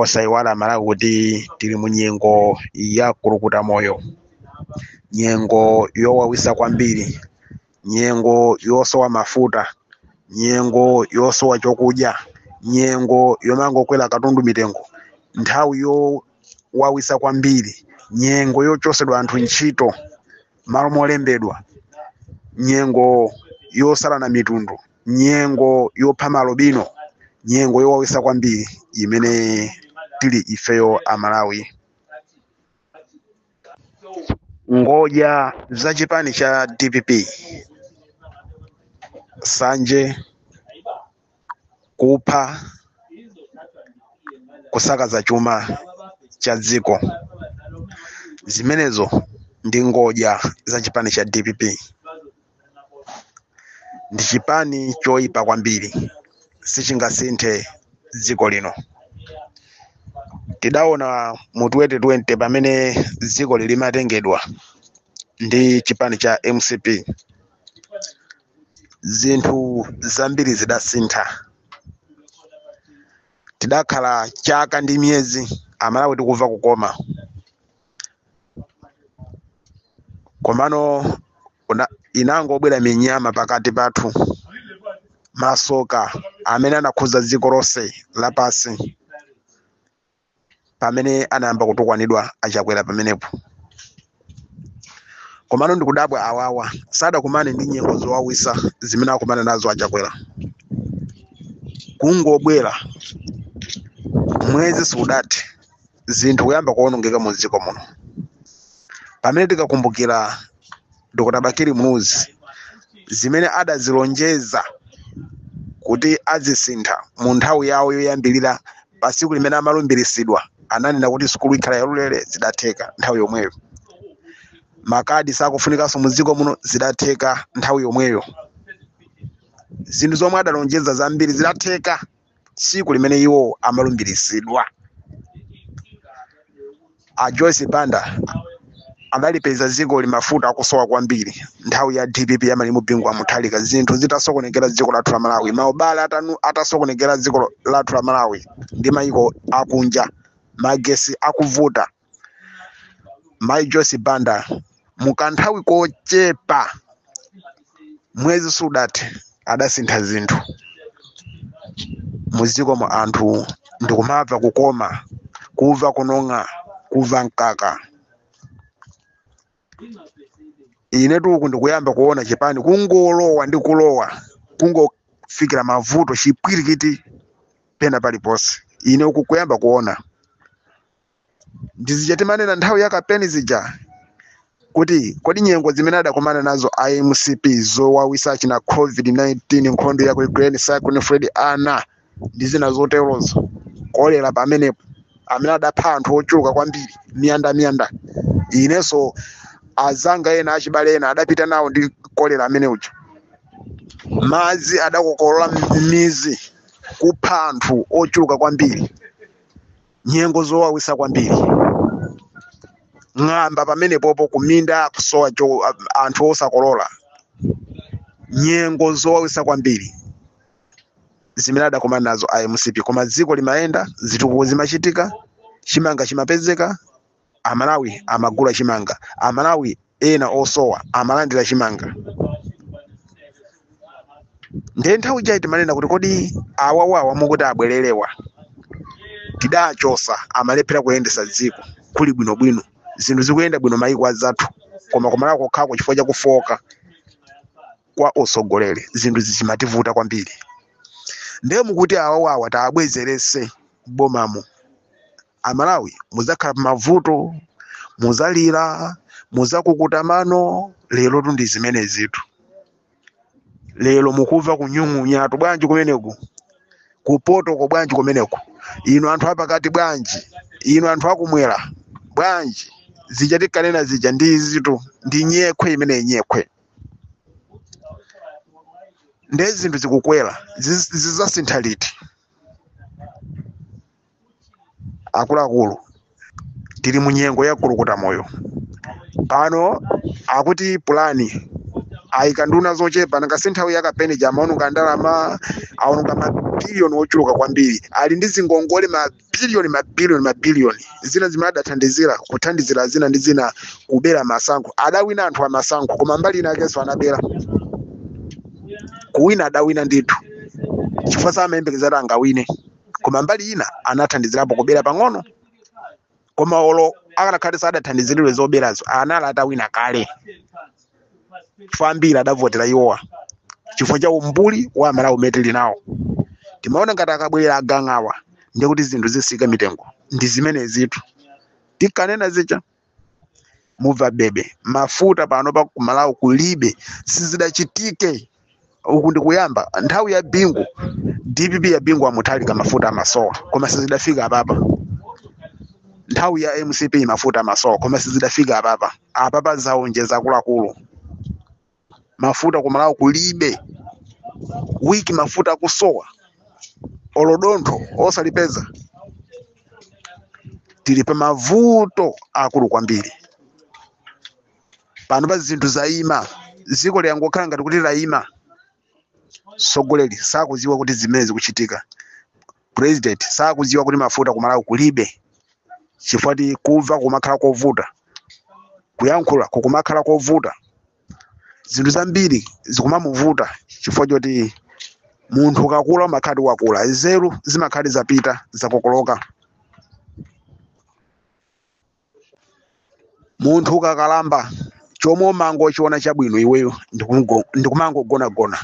osayiwala amalawi kuti tili mu nyengo ya kukukuta moyo nyengo yowawisa kwambiri nyengo yosowa mafuta nyengo yosowa chokudya nyengo yomangokwera katundu mitengo nthawi yowawisa kwambiri nyengo yochosedwa anthu ntchito malo molembedwa nyengo yosalana mitundu nyengo yopha maalubino nyengo yowawisa kwambiri imene tili ifeyo amalawi ngodya za chipani cha dpp sanje kupha kusakaza chuma cha dziko zimenezo ndi ngodya za chipani cha dpp ndi chipani choyipa kwambiri sichingasinthe dziko lino tidaona mu 2020 pamene dziko limatengedwa ndi chipani cha mcp zinthu zambiri zidasintha tidakhala chaka ndi miyezi amalawi tikumva kukoma komano inangobwera minyama pakati pathu masoka amene anakhuza dziko lonse lapansi pamene anayamba kutukwanidwa achakwera pamenepo komano ndikudabwa awawa sadakumane ndi nyengo zowawisa zimene akumana nazo achakwera kungobwera mwezi siudathe zinthu kuyamba kuonongeka mu dziko muno pamene tikakumbukira dr bakiri muluzi zimene adazilonjeza kuti azisintha mu nthawi yawo yoyambirira pa tsiku limene amalumbiritsidwa ananena kuti sukulu ikhala yaulere zidatheka nthawi yomweyo makadi sakufunikanso mu dziko muno zidatheka nthawi yomweyo zinthu zomwe adalonjeza zambiri zidatheka tsiku limene iwo amalumbiritsidwa a joyce banda adalipeza dzikoli mafuta akusowa kwambiri nthawi ya dpp ya malemu bingu wa mutharika zinthu zitasokonekera dziko lathu la malawi maubale atasokonekera dziko lathu la malawi ndi mayiko akunja magesi akuvuta mayi joyce banda mu kanthawi kochepa mwezi sudathe adasintha zinthu muziko mwa anthu ndikumava kukoma kuva kunong'a kuva mkaka inetu uku ndikuyamba kuona chipani kungolowa ndi kulowa kungofikira mavuto chipwirikiti pena paliponse ine uku kuyamba kuona ndi zija timanena nthawi ya kampeni zija kuti kodi nyengo zimene adakumana nazo a mcp zowawisa chija covid-19 nkhondo ya ku ukraine cyclone fred ana ndi zina zoterozo kolera pamenepo amene adapha anthu ochuluka kwambiri miyanda miyanda inenso azanga ena achibale ena adapita nawo ndi kolera amene uja madzi adakokolola midzi kupha anthu ochuluka kwambiri nyengo zowawisa kwambiri ng'amba pamenepopo kuminda kusowa cho anthu osakolola nyengo zowawisa kwambiri zimene adakomana nazo a mcp koma dziko limayenda zitukuko zimachitika chimanga chimapezeka amalawi amagula chimanga amalawi ena osowa amalandira chimanga ndiye nthawi ijayi timanena kuti kodi awawawa mukuti abwererewa tidachosa amalephera kuyendesa dziko kuli bwinobwino zinthu zikuyenda bwino mayiko azathu koma kumalawi kokhako chifukwa chakufooka kwa atsogoleri zinthu zimativuta kwambiri ndiye mukuti awawawa tiwabwezerese bomamo amalawi muzakhala pamavuto muzalira muzakukuta mano lerotu ndi zimenezitu lero mukuva kunyung'unyatu bwanji kumeneku kupotoko bwanji kumeneku inu anthu apakati bwanji inu anthu akumwera bwanji zija tikanena zija ndi izitu ndi nyekhwe imeneyi nyekhwe nde zinthu zikukwera ziz- zizasintha liti akuluakulu tili mu nyengo ya kulukuta moyo pano akuti pulani ayika nduna zochepa nanga si nthawi ya kampeni ija amaononga ndalama aononga mabiliyoni ochuluka kwambiri ali ndi zingongole mabiliyoni mabiliyoni mabiliyoni zina zimene adathandizira kuthandizira zina ndi zina kubera masankho adawina anthu amasankho koma mbali inayakenso anabera kuwina adawina ndithu chifukwa samayembekezera kuti angawine koma mbali ina anathandizirapo kubera pang'ono koma olo akanakhala kuti sadathandiziridwe zoberazo anali atawina kale chifukwa ambiri adavotera iwowa chifukwa cha umbuli wa amalawi umene tili nawo timaona ngati akabwerera agangawa ndiye kuti zinthu zitsika mitengo ndi zimenezitu tikanena zicha mubva bebe mafuta pano pa kumalawi kulibe sizidachitike uku ndikuyamba nthawi ya bingu dpp ya bingu a muthalika mafuta amasowa koma sizidafika apapa nthawi ya mcp mafuta amasowa koma sizidafika apapa apapa zaonjeza akuluakulu mafuta ku malawi kulibe wiki mafuta akusowa olodontho osalipeza tili pa mavuto akulu kwambiri panopa zinthu zayima dziko langokhala ngati kuti layima tsogoleri sakuziwa kuti zimene zikuchitika president sakudziwa kuti mafuta kumalawi kulibe chifukwa ti kumva kumakhala kovuta kuyankhula kukumakhala kovuta zinthu zambiri zikumamuvuta chifukwa choti munthu ukakula umakhala ti wakula nzeru zimakhala zapita zakokoloka munthu ukakalamba chomwe umangochiona chabwino iweyo ndikungo- ndikumangogonagona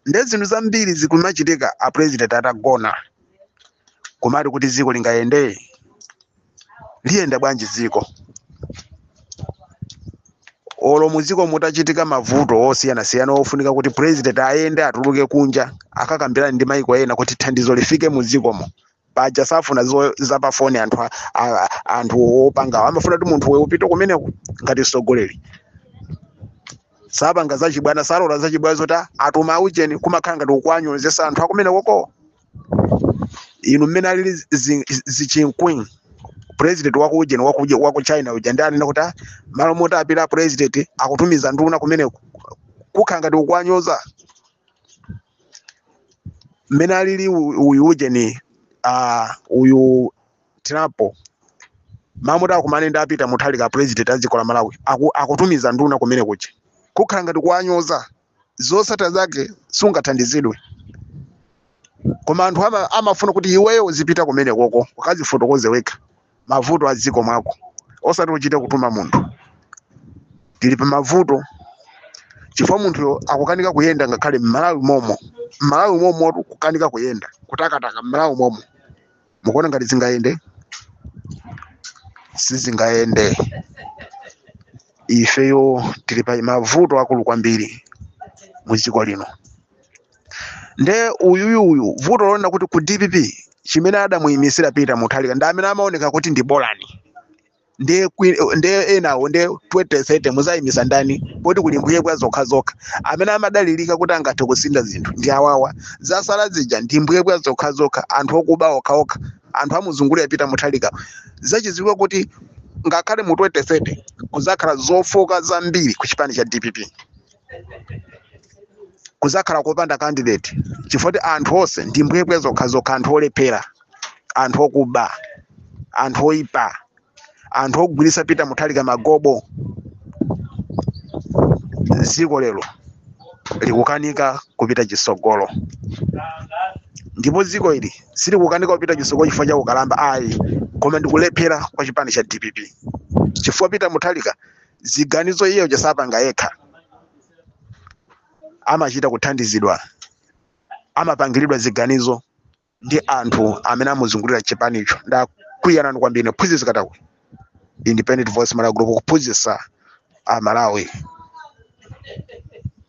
nde zinthu zambiri zikumachitika a president atagona kumati kuti dziko lingayende liyenda bwanji dziko olo muzikomo mutachitika mavuto osiyanasiyana ofunika kuti president ayende atuluke kunja akakambirane ndi maiko ena kuti thandizo lifike muzikomo paja safuna zo- zapafoni anthu a- a- anthu opangawo amafuna kuti munthu iweyo upite kumeneko ngati mtsogoleri sapanga zachibwana salola zachibwana zoti atuma aujeni kumakhala ngati kuwanyozetsa anthu akumenekokowo inu mmene alili zi- zi- zichinkwin president waku ujeni waku uja- waku china uja ndi anena kuti "Ah, malo moti apita president akutumiza nduna kumeneko kukhala ngati kuwanyoza mmene alili u- uyu ujeni ah, uyu tirapo amati akumane ndi a pita muthalika president a dziko la malawi aku- akutumiza nduna kumene kuja kukhala ngati kuwanyoza zosatha zake sungathandizidwe koma anthu ama, amafuna kuti iweyo uzipita kumenekoko ukazifotokoze wekha mavuto a mdziko mwako osati uchite kutuma munthu tili pa mavuto chifukwa munthuyo akukanika kuyenda ngakhale mmalawi momo mmalawi momo kukanika kuyenda kutakataka mmalawi momo mukuona ngati zingayende sizingayende ifeyo tili pa mavuto akulu kwambiri mu dziko lino nde uyuyu uyu vuto lonena kuti ku dpp chimene adamuyimisira peter muthalika ndi amene amaoneka kuti ndi bolani nde kwi- nde enawo nde 2030 muzayimisa ndani poti kuli mbwebwe zokha zokha amene amadalirika kuti angathe kusintha zinthu ndi awawa zasala zija ndi mbwebwe zokha zokha anthu okuba okha okha anthu amuzungulira peter muthalika zachiziwikire kuti ngakhale mu 2030 kuzakhala zofoka zambiri ku chipani cha dpp kuzakhala kopanda candidate chifukwa kuti anthu onse ndi mbwebwe zokhazokha anthu olephera anthu okuba anthu oyipa anthu ogwiritsa pita muthalika magobo dziko lero likukanika kupita chisogolo ndipo dziko ili silikukanika kupita chisogolo chifukwa cha ukalamba ayi koma ndikulephera kwa chipani cha dpp chifukwa pita muthalika ziganizo iye uja sapanga yekha amachita kuthandizidwa amapangiridwa ziganizo ndi anthu amene amuzungulira chipanicho ndakunyadirani kwambiri mphunzitsi katakwe independent voice malawi group kuphunzitsa amalawi